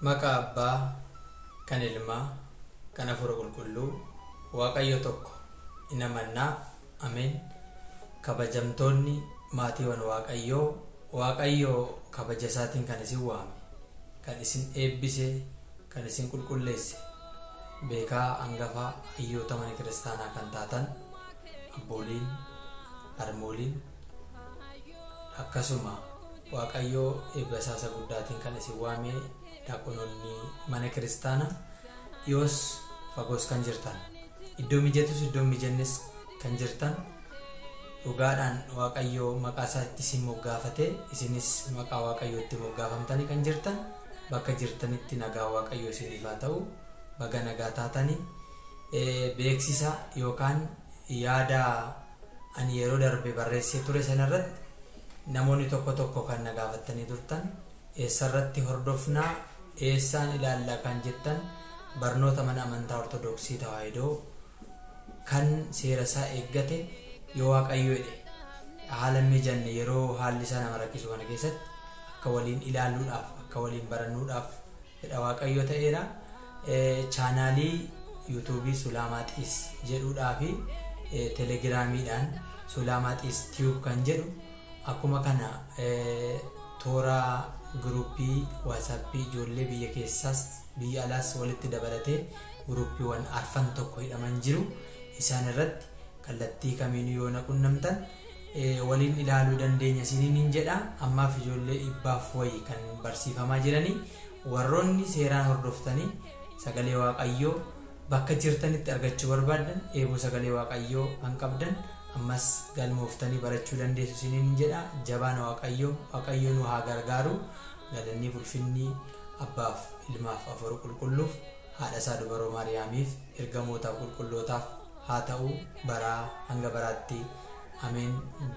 Maqaa Abbaa, kan Ilmaa, kan Hafuura Qulqulluu, Waaqayyo tokko, in amanna. Ameen. Kabajamtoonni maatiiwan Waaqayyoo, Waaqayyo kabaja isaatiin kan isin waame, kan isin eebbise, kan isin qulqulleesse, beekaa angafa hayyoota mana kiristaanaa kan taatan, abbooliin, harmooliin, Akkasuma Waaqayyo eebba isaa isa guddaatiin kan isin waame daaqonoonni mana kiristaana dhiyoos fagoos kan jirtan iddoo mijatus iddoo hin mijannes kan jirtan dhugaadhaan Waaqayyo maqaa isaa itti isin moggaafate isinis maqaa Waaqayyo itti moggaafamtanii kan jirtan bakka jirtanitti nagaa Waaqayyo isiniif haa ta'u baga nagaa taatanii beeksisa yookaan yaada Ani yeroo darbe barreessee ture sana irratti namoonni tokko tokko kan na gaafattanii turtan eessa irratti hordofna, eessaan ilaalla kan jettan barnoota mana amantaa Ortodoksii Tawaahidoo kan seera isaa eeggate yoo Waaqayyo jedhe haala hin mijanne yeroo haalli isaa nama rakkisu kana keessatti akka waliin ilaalluudhaaf, akka waliin barannuudhaaf. Fedha Waaqayyoo ta'eera. Chaanaalii Yuutuubii Sulaamaa Xiis jedhuudhaa fi Telegiraamiidhaan Sulaamaa Xiis Tube kan jedhu akkuma kana toora guruuppii waatsaappii ijoollee biyya keessaas biyya alaas walitti dabalatee guruuppiiwwan arfan tokko hidhaman jiru isaan irratti Kallattii kamiinuu yoo na qunnamtan waliin ilaaluu dandeenya isiininiin jedha. Ammaaf ijoollee dhibbaaf wayi kan barsiifamaa jiranii. Warroonni seeraan hordoftanii sagalee Waaqayyoo bakka jirtanitti argachuu barbaaddan dheebuu sagalee Waaqayyoo kan qabdan ammas galmooftanii barachuu dandeessu isiininiin jedha. Jabaana Waaqayyoo Waaqayyoo nu haa gargaaru. Galanniif ulfinni Abbaaf, Ilmaaf, Afuura Qulqulluuf. haadha isaa dubaroo Maariyaamiif, ergamootaaf, qulqullootaaf haa ta'u baraa hanga baraatti. Ameen.